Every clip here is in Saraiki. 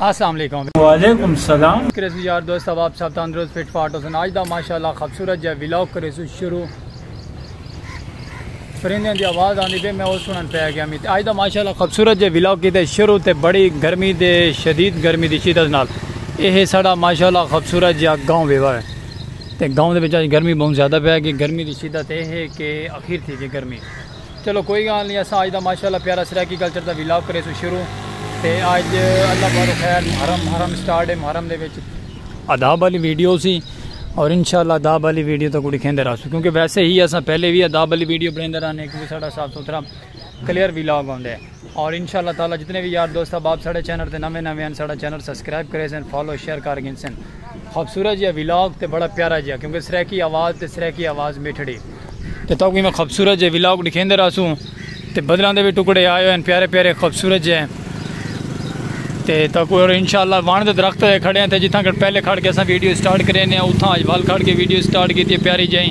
السلام علیکم وعلیکم السلام کریسو یار دوست اب آپ سب تندرست فٹ فاٹ ہو سن آج دا ماشاءاللہ خوبصورت جا ویلاگ کریسو شروع پرندے دی آواز آندی پہ میں او سنن پہ گیا میت آج دا ماشاءاللہ خوبصورت جا ویلاگ کیتے شروع تے بڑی گرمی دے شدید گرمی دی شدت نال اے ہے ساڑا ماشاءاللہ خوبصورت جا گاؤں ویوا ہے تے گاؤں دے بچا گرمی بہت زیادہ پہ گی گرمی دی شدت اے ہے کہ اخیر تھی جی گرمی چلو کوئی گال نی اساں آج دا ماشاءاللہ پیارا سرائیکی کلچر دا ویلاگ کریسوں شروع تے آج اللہ بارو خیر محرم محرم اسٹارٹ ہے محرم دے وچ اداب آلی ویڈیو سی اور انشاءاللہ اداب آلی ویڈیو تکوں ڈکھیندے رہسوں کیونکہ ویسے ہی اساں پہلے وی اداب آلی ویڈیو بنیندے رہنے کیونکہ ساڈا صاف ستھرا کلیئر ویلاگ ہوندے۔ اور انشاء اللہ تعالی جتنے بھی یار دوست احباب ساڑے چینل تے نویں نویں ہیں ساڑا چینل سبسکرائب کرے سن فالو شیئر کر گن سن خوبصورت جی ویلاگ تے بڑا پیارا جی کیونکہ سریکی آواز تے سریکی آواز میٹھڑی تے تو میں خوبصورت جی ویلاگ دکھیں دے راسوں تے بدلاں دے بھی ٹکڑے آئے ہوئے ہیں پیارے پیارے خوبصورت جی ہیں تے تو کوئی اور انشاءاللہ وان دے درخت تے کھڑے ہیں تے جتھاں کر پہلے کھڑ کے اساں ویڈیو سٹارٹ کرے نے اتھاں اج وال کھڑ کے ویڈیو سٹارٹ کیتی پیاری جی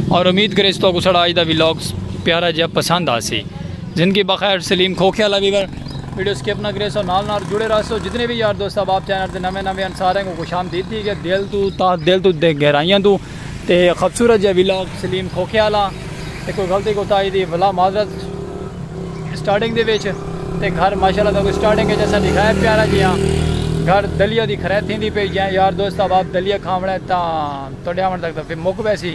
اور امید کرے اس تو کو سڑا اج دا ویلاگ پیارا جی پسند آسی زندگی بخیر سلیم کھوکھیا لا ویور ویڈیو سکپ نہ کرے سو نال نال جڑے رہ سو جتنے بھی یار دوست احباب چینل تے نویں نویں ان سارے کو خوش آمدید تھی کہ دل تو تا دل تو دے گہرائیاں تو تے خوبصورت جے ویلاگ سلیم کھوکھیا لا تے کوئی غلطی کوتاہی دی بھلا معذرت سٹارٹنگ دے وچ تے گھر ماشاءاللہ تو کوئی سٹارٹنگ وچ اسا دکھایا پیارا جی ہاں گھر دلیا دی خرید تھیندی پئی جے یار دوست احباب دلیا کھاونا ہے تاں تڈے آون تک تے پھر مک ویسی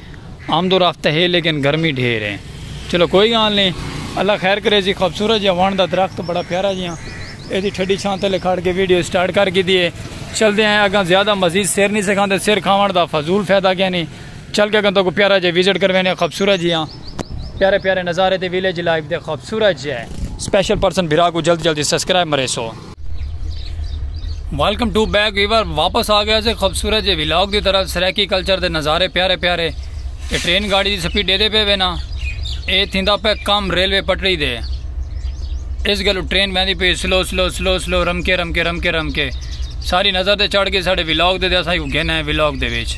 آمد و رفت ہے لیکن گرمی ڈھیر ہے۔ چلو کوئی گالھ نئیں۔ اللہ خیر کرے جی خوبصورت جیہا ونڑ دا درخت بڑا پیارا جیہاں اے دی ٹھڈی چھاں تلے کھڑ کے ویڈیو سٹارٹ کر گھدی ہے۔ چلدے ہیں اگاں زیادہ مزید سر نئیں سکھاندے سر کھاونڑ دا فضول فیدہ کینی۔ چل کے اگاں تہاکوں پیارا جیہا وزٹ کروینے خوبصورت جیہاں پیارے پیارے نظارے تے ویلیج لائف دے خوبصورت جیہے سپیشل پرسن بھرا کوں جلدی جلدی سبسکرائب مریسو۔ ویلکم ٹو بیک ویور واپس آ گیا سے خوبصورت جی ولاگ دی طرف سریکی کلچر دے نظارے پیارے پیارے اے ٹرین گاڑی دی سپیڈ دے دے پے وینا اے تھیندا پہ کم ریلوے پٹری دے اس گلو ٹرین ویندی پی سلو سلو سلو سلو رم کے رم کے رم کے رم کے ساری نظر دے چڑھ گئی ساڑھے ولاگ دے دے اساں کو گھن ہے ولاگ دے ویچ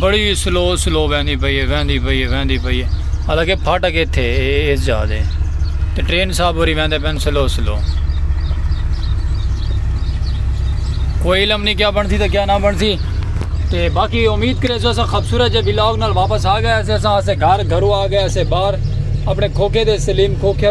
بڑی سلو سلو ویندی پئی ہے ویندی پئی ہے ویندی پئی ہے حالانکہ پھاٹک اتنے اس جا دے تو ٹرین صاحب ہوری ویندے پین سلو سلو کوئی علم نہیں کیا بنتی تو کیا نہ بنتی تو باقی امید کرے سو ایسا خوبصورت جب بلاگ نال واپس آ گیا ایسے ایسا ایسے گھر گھرو آ گیا ایسے باہر اپنے کھوکھے دے سلیم کھوکھے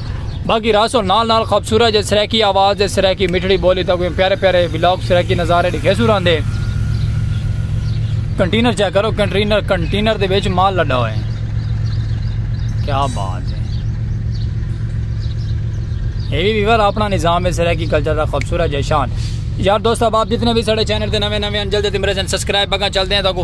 باقی راسو نال نال خوبصورت جے سریکی آواز جے سریکی مٹھڑی بولی تک پیارے پیارے ولاگ سریکی نظارے دکھے سو راندے کنٹینر چیک کرو کنٹینر کنٹینر دے بیچ مال لڈا ہوئے کیا بات ہے یہ بھی ویور اپنا نظام ہے سریکی کلچر دا خوبصورت جے شان یار دوست اب آپ جتنے بھی سڑے چینر دے نوے نوے انجل دے دمرے سن سسکرائب بگا چل دیں تاکو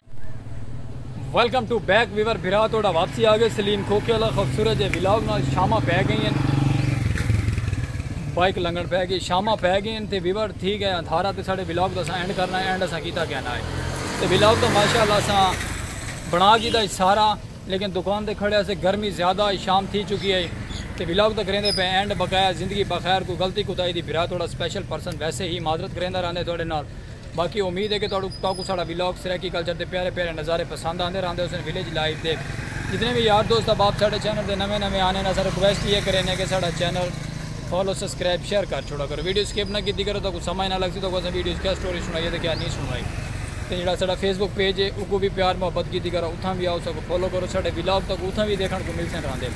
ویلکم ٹو بیک ویور بھرا توڑا واپسی آگے سلیم کھوکے اللہ خوبصورت جے ویلاگ نال شامہ پہ گئی ہیں بائک لنگن پہ گئی شامہ پہ گئی ہیں تے ویور تھی گئے ہیں دھارا تے ساڑے ویلاگ دا سا اینڈ کرنا ہے اینڈ سا کیتا کیا نہ ہے تے ویلاگ دا ماشاءاللہ سا بنا گی دا سارا لیکن دکان دے کھڑے سے گرمی زیادہ ہے شام تھی چکی ہے تے ویلاگ دا کریں دے پہ اینڈ بقایا زندگی بخیر کو غلطی کو تائی دی بھرا توڑا سپیشل پرسن ویسے ہی معذرت کریں دا رہنے توڑے نال باقی امید ہے کہ تہاکوں ساڈا ولاگ سرائیکی کلچر دے پیارے پیارے نظارے پسند آندے راہندے ہوسن ولیج لائف دے جتنے وی یار دوست احباب ساڈے چینل تے نویں نویں آنے اساں ریکویسٹ ایہہ کرینے کہ ساڈا چینل فالو سبسکرائب شیئر کر چھوڑا کرو ویڈیو سکپ نہ کیتی کرو تہاکوں سمجھ نہ لگسی تہاکوں اساں ویڈیوز کیا سٹوری سنائی تے کیا نی سنوائی تے جیڑھا ساڈا فیس بک پیج ہے اوکوں وی پیار محبت کیتی کرو اتھاں وی آؤ اساکوں فالو کرو ساڈے ولاگ تہاکوں اتھاں وی دیکھن کوں ملسن راہندے۔